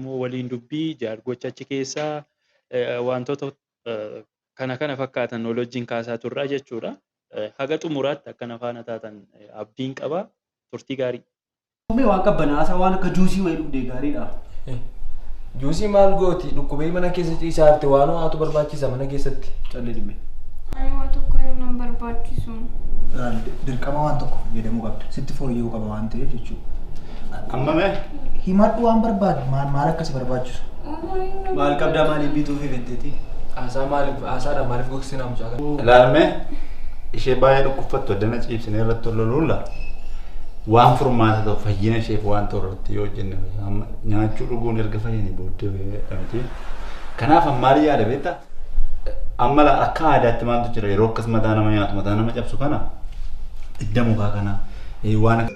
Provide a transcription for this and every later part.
Oromoo waliin dubbii, jaargocha achi keessaa, wantoota kana kana fakkaatan wal wajjin kaasaa turra jechuudha. Haga xumuraatti akka na faana taatan abdiin qaba. Turtii gaarii. Mee waan qabbanaasaa waan akka juusii wayii dhugdee gaariidha. Juusii maal gooti dhukkubee mana keessa ciisaa jirti waan ho'aatu barbaachisa mana keessatti. Callee dhimee. Ani waa tokko yoo nan barbaachisu. Dirqama waan tokko fayyadamuu qabda. Sitti fooyya'uu qaba waan ta'eef jechuudha. Amma mee Himadhu waan barbaadu maal maal akka si barbaachisu. Maal qabdaa maaliif bituu fi fetteeti? Haasaa maaliif haasaadha maaliif gogsinaa mucaa kana? Ilaalme ishee baay'ee dhukkubfattu addana ciibsinee irratti ol loluula. Waan furmaata ta'u fayyina isheef waan ta'u irratti yoo hojjenne fayya. Amma nyaachuu dhuguun erga fayyanii booddee fayyadha miti. Kanaaf amma maal yaada beektaa? Amma laa akka aadaatti maaltu jira yeroo akkas mataa nama nyaatu mataa nama cabsu kana idda mukaa kana eh, waan akka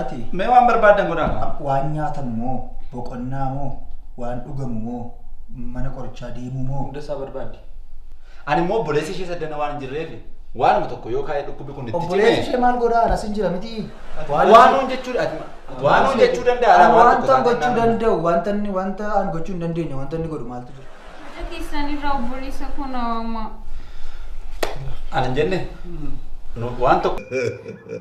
Ati Mee waan barbaaddan godhaa kaa. a- waan nyaatamu moo, boqonnaa moo, waan dhugamu moo, mana qorichaa deemuu moo? Hunda isaa barbaaddi. Ani immoo obboleessi ishee saddana waan hin jirreef waanuma tokko yoo kaa'ee dhukkubbi kun itti Obboleessi ishee maal godhaa? Anas hin jira miti. Waanuun jechuu waanuun jechuu danda'a. Ani waan tokko wanta taanaan gochuu naannoo- danda'u, wanta inni wanta ani gochuu hin dandeenye, wanta inni godhu maaltu jira? Haadha keessanirraa obboleessa koo na waamaa. Ani hin jenne. Nu- Waan tokko.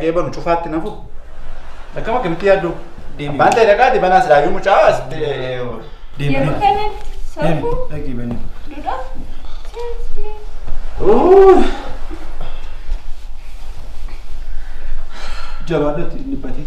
Gee banu cufaatti nafu. Akkam akkamitti yaaddu? Deemi. Bantee dhaqaati banaa silaa yoo mucaa as Deemi. Yeroo kanatti Deemi. safuu Dhaqii bani. dudha. Siyaasni. Uuu. Jabaadhatti dhibbatee.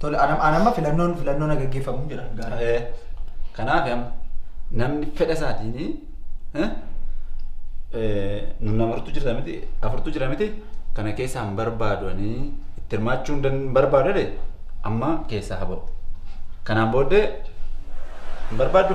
Tole anam anamma filannoon filannoon na gaggeeffamu jira gaara. Eh, Kanaaf amma namni fedha isaatiin eh, eh, nun amartu jira miti afurtu jira miti kana keessaa hin barbaadu ani itti hirmaachuu hin dan- hin barbaadu jedhe amma keessaa haa ba'u. Kanaan booddee hin barbaaddu.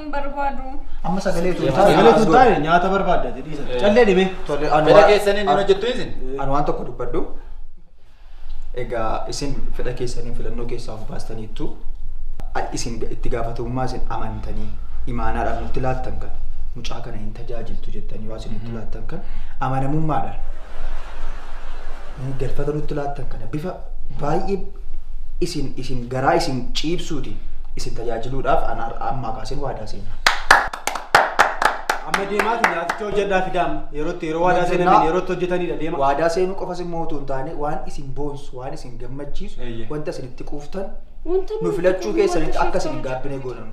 hin barbaadu. Amma sagalee tun taa'e. Sagalee tun taa'e nyaata barbaadda ati dhiisa. Callee dhibee. Tole ani Fedha waan- keessaniin hin hojjettu isin? Ani waan tokko dubbadhu. Egaa isin fedha keessaniin filannoo keessaa of baastaniittu a- isin ga- itti gaafatamummaa isin amantanii imaanaadhaan nutti laattan kan mucaa kana hin tajaajiltu jettanii waan isin nutti laattan kan amanamummaadhaan nu galfata nutti laattan kana bifa baay'ee isin isin garaa isin ciibsuuti isin tajaajiluudhaaf an har'a ammaa kaaseen waadaa seena. Amma deemaa fi nyaaticha hojjedhaa fidaa amma. Yerootti yeroo waadaa seenan Hojjennaa. yerootti hojjetanidha deema. Waadaa seenuu qofas immoo utuu hin taane waan isin boonsu waan isin gammachiisu Eeyyee. wanta isin itti quuftan Wanta nu filachuu keessanitti akka isin hin gaabbine goonama.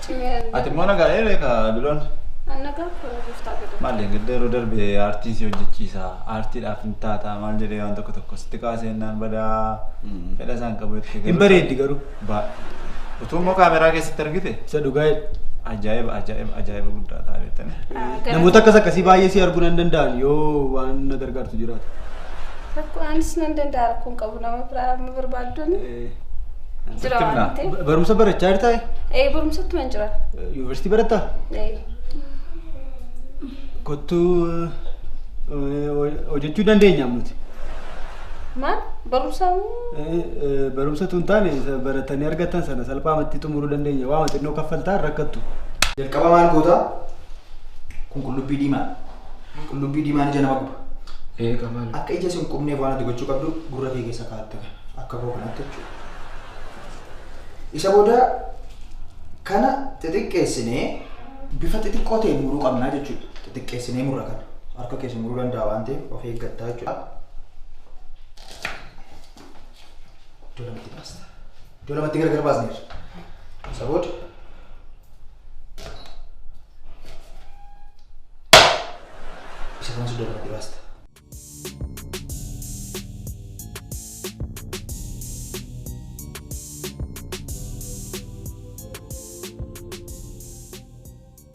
Cimeera Ati immoo nagaa dheeree ka duloon. Anna gaaf kun giftaa godhe. Maali gadda yeroo darbe aartiin si hojjechiisa aartiidhaaf hin taata maal jedhee waan tokko tokko sitti kaasee naan badaa fedha isaan qabu jettee Hin bareeddi garuu. Baa. Utuu immoo kaameraa keessatti argite Isa dhugaa jedhe. ajaa'iba ajaa'iba ajaa'iba guddaa ta'a beektanii. Namoota akkas akkasii baay'ee si arguu nan danda'an yoo waan na gargaartu jiraate. Rakkoo anis nan danda'a rakkoon qabu nama biraa amma barbaaddoon. Jira waan ta'eef. Barumsa barachaa jirtaa? Ee barumsatti man jira. Yuunivarsiitii barattaa? Ee. Kottuu hojjechuu dandeenya nuti. Maal barumsa Barumsa tun taane baratanii argatan sana salphaamatti xumuruu dandeenya. Waama xinnoo kaffaltaa rakkattu. Jalqaba maal gootaa? Kun qullubbii diimaa. Qullubbii diimaan ija nama guba. Ee qabaal. Akka ija sin qubneef waan ati gochuu qabdu gurra kee keessa kaa'atte kana. Akka koo kanatti jechuudha. Isa booda kana xixiqqeessinee bifa xixiqqoo ta'een muruu qabnaa jechuudha. Xixiqqeessinee murra kana. Harka keessa muruu danda'a waan ta'eef of eeggattaa jechuudha. Iddoo lamatti baasta. iddoo lamatti gargar baasneerra. Isa booda isa kanas iddoo lamatti baasta.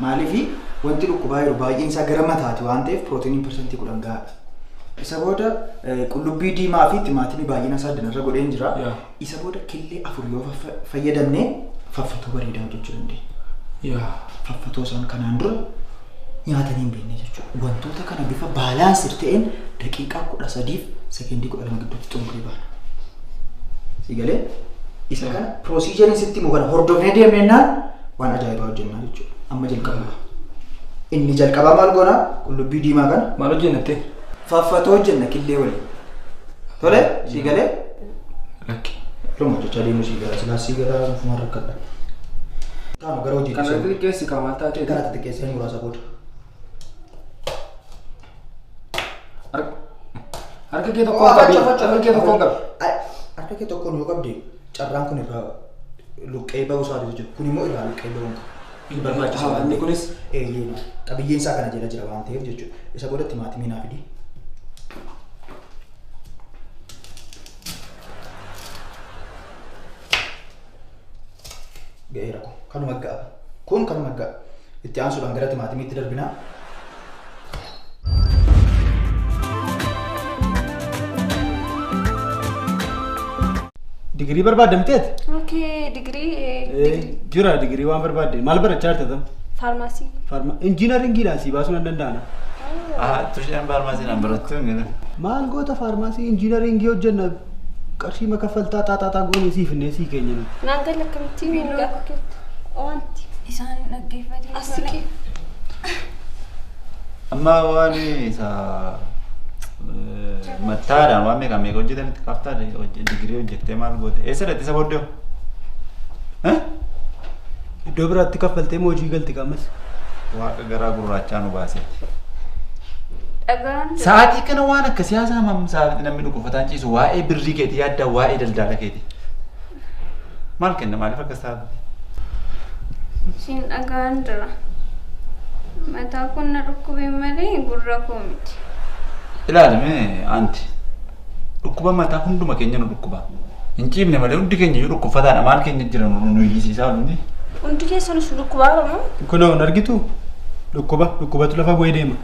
Maaliif wanti dhukkubaa jiru baay'een isaa gara mataati waan ta'eef pirootiiniin parsantii kudhan gahaadha. Isa booda qullubbii diimaa fi timaatimii baay'ina isaa addanarra godheen jira. Isa booda killee afur yoo fayyadamne faffatoo bareedaa hojjechuu dandeenya. Faffatoo isaan kanaan dura nyaatanii hin beekne jechuudha. Wantoota kana bifa baalaansiir ta'een daqiiqaa kudha sadiif sekeendii kudha lama gidduutti xumurree baana. Sigalee isa kana Piroosiijeriin sitti himu kana hordofnee deemne jennaan waan ajaa'ibaa hojjennaa jechuudha. Amma jalqabna. Inni jalqabaa maal goonaa? Qullubbii diimaa kana. Maal hojjennattee? Faaffatoo hojjenna killee waliin. Tole sii galee? Lakki. Yeroo hojjechaa deemuu sii galaa silaa sii galaa ofumaan rakkadha. Taanu gara hojii Kana xixiqqeessi kan maal taatee? Kana xixiqqeessee muraasa booda. Harka kee tokkoon qabi. Harka kee tokkoon qabi. Harka kee tokkoon yoo qabde carraan kun irraa luqqee ba'uu isaa jiru kun immoo irraa luqqee ba'uu hin qabu. Hin barbaachisu waan ta'eef. Kunis eeyyee qabiyyeen isaa kana jala jira waan ta'eef jechuudha. Isa boodatti maatii miinaa fidi. Ga'eera kun kanuma ga'a. Kun kanuma ga'a. Itti aansuudhaan gara timaatimiitti darbina. Digirii barbaadda miteeti? Okay, digirii eh, Jira digirii waan barbaadde. Maal barachaa jirta tam? faarmaasii. Farma injiinaringiidhaan sii baasuu nan danda'ana. Ah, tushaan faarmaasiin an barattu hin jedhu. Maal goota faarmaasii injiinaringii hojjenna Qarshii ma kaffaltaa xaaxaaxaa goonee sii finnee sii keenya nuti. Naan gala akkamittiin hin gaafatuutti. Wanti. Isaan hin dhaggeeffatin. Asiqii. Amma waan isa mattaadhaan waan meeqa meeqa hojjetanitti kaftaa digirii hojjettee maal goote eessa dhatti isa booddee Iddoo biraatti kaffaltee moo hojii galti qaamas? Waaqa garaa gurraachaa nu baaseeti. Dhagaan Sa'aatii kana waan akka siyaasaa mam sa'aatii namni dhukkubfataan ciisu waa'ee birrii keetii yaaddaa waa'ee daldala keetii. Maal kenna maaliif akkas taatu? siin dhagaan jira. Mataa kun na dhukkubee malee gurra koo miti. Ilaalame anti. Dhukkuba mataa hunduma keenya nu dhukkuba. Hin ciifne malee hundi keenya iyyuu dhukkubfataadha. Maal keenya jira nu nu hiyyisiisaa oolunni. Hundi keessanis dhukkubaa bamoo? Kunoo hin argitu dhukkuba dhukkubatu lafa bu'ee deema.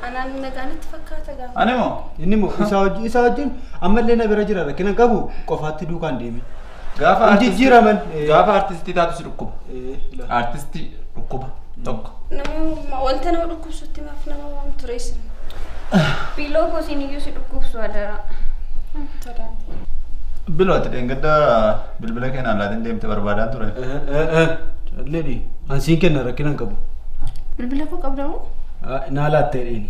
Anaan nagaanitti fakkaata gaafa. Ani moo? Inni moo isaa wajjin isaa wajjin ammallee na bira jira rakkina qabu qofaatti duukaan deeme. Gaafa Hin artistii- jijjiiraman. Eh. Gaafa artistii taatu si dhukkuba. Eh, ila. Artistii dhukkuba tokko. Nama wanta nama dhukkubsutti maaf nama waan tureessan. Biiloo koo siin iyyuu si dhukkubsu adaraa. Biloo ati dheengadda bilbila keenyaan laatiin deemte barbaadaan ture. Calleedhi. Ansiin kenna rakkina hin qabu. Bilbila koo qabdamoo? Naa laattee dheeni.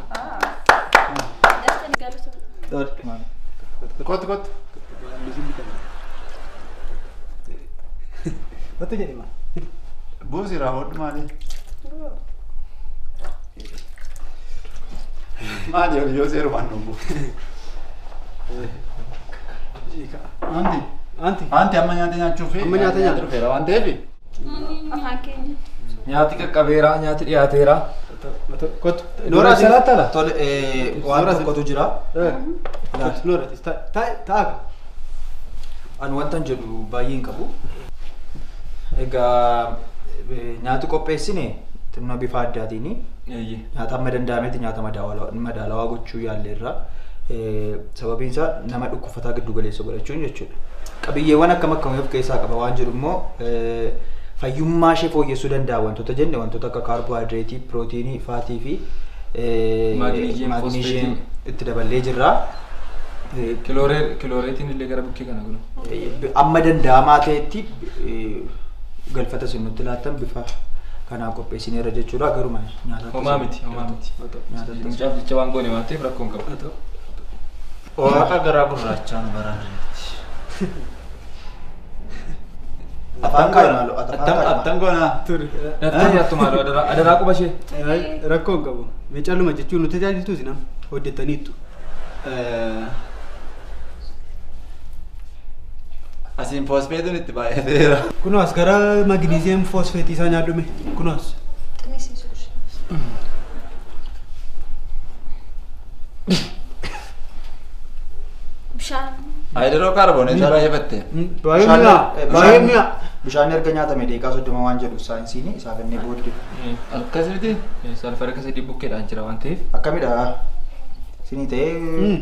Kottu kottu. Kottu jedhi maal? Buusi irraa hodhu maali? Maali ol yoo seerumaan dhumbu. Anti. Anti. Anti amma nyaata nyaachuuf. Amma nyaata nyaata. Dhufeera waan ta'eef. Nyaati qaqqabeera, nyaati dhiyaateera. Kottu. Nooraa seeraa tala. Tole eh, waan tokkotu jira. Noora taa'aa. Ani wantan jedhu baay'ee hin qabu. Egaa eh, nyaati qopheessine xinna bifa addaatiin nyaata amma danda'ametti nyaata madaalawaa madaalawaa gochuu yaalleerra. Eh, Sababiin isaa nama dhukkubsatu. fataa giddu galeessa godhachuun jechuudha. Qabiyyeewwan akkam akkamii of keessaa qaba waan jedhu immoo fayyummaa ishee fooyyessuu danda'a wantoota jenne wantoota akka kaarboohaayidireetii, pirootiinii, faatii fi maagniishiyeem itti daballee jirra. Kilooreetiin illee gara bukkee kana gulu. Amma danda'amaa ta'etti galfata isin nutti laattan bifa kanaa qopheessineerra jechuudha garuma nyaata. Homaa miti, homaa miti. Nyaata Mucaaf jecha waan goone waan ta'eef rakkoo hin qabu. Waaqa garaa gurraachaa nu baraarreetti. Afaan qabu maaloo Attam attam goonaa. Turi. Nattaa nyaattu maaloo adaraa adaraa quba ishee. Rakkoo hin qabu. Mee calluma jechuun nu tajaajiltuuti nam hojjettaniittu. Asiin foosfeetiin itti baay'ateera. Kunoo as gara magniziyeem foosfeetii isaa nyaadhume. Kunoo as. Bishaan. Haayidiroo kaarbooneetii baay'ifatte. Baay'ee mi'a. Baay'ee mi'a. Bishaan erga nyaatame deeqaa soddoma waan jedhu saayinsiin isaa kennee booddee. Akkas miti. Salfarika sadii bukkeedhaan jira waan ta'eef. Akkamidha? Sinii ta'ee.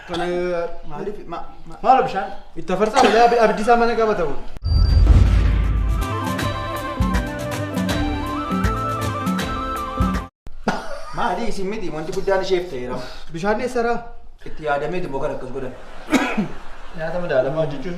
Kana maaliif maalo bishaan itti afarsaa malee abiddi isaa mana qabata kun. Maali isin miti wanti guddaan isheef ta'eera. Bishaan eessaraa? Itti yaadamee immoo kan akkas godhan. Nyaata madaalamaa jechuun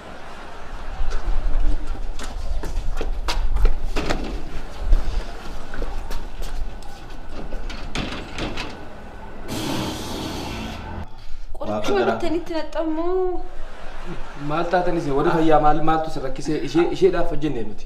Qorichuma garaa. bittanitti naxxammoo Maal taatan isin warri fayyaa maal maaltu isin rakkisee ishee isheedhaaf hojjenne nuti.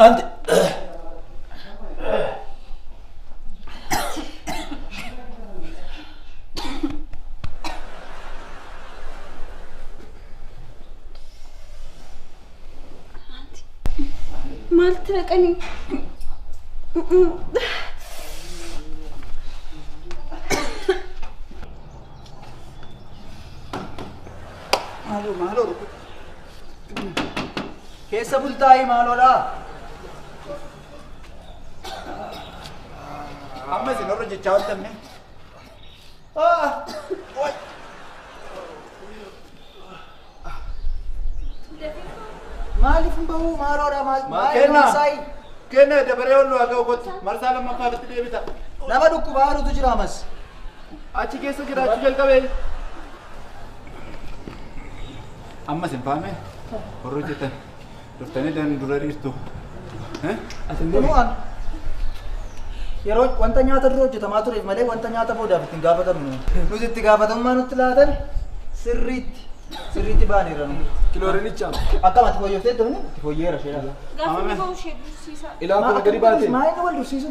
Ante. Maal itti naqanii? Maaloo maaloo rukuta. Keessa bultaa'ii maaloodhaa? Amma isin warra jechaa ooltanne. Ah! Maaliif hin bahuu maaroodha maal maal Kenna. maasaayii? Kenna dabaree ol waa ga'u kottu. Marsaa lammaffaa irratti deebita. Nama dhukkubaa haruutu jira amas. Achi keessa jiraachuu jalqabee. Ammas hin faamee. Horroo jettan. Dhuftanii dan dura dhiirtu. Kunuu an yeroo wanta nyaata dura hojjetamaa tureef malee wanta nyaata boodaaf ittiin gaafatamnu. Nuti itti gaafatamummaa nutti laatan sirriitti sirriitti baaneera nu. Kiloorinichaaf. Akkamatti fooyyessee turni itti fooyyeera sheedha. Gaafa dhiboo ishee dursiisa. Ilaa kun gadi baatee. Maa inni wal dursiisu?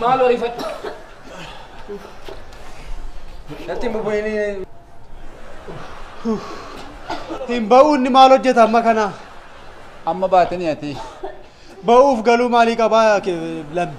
Maaloo rifadhu. Natti hin bubu'inii. Hin ba'uu inni maal hojjeta amma kana? Amma baatanii ati. Ba'uuf galuu maalii qabaa lammi?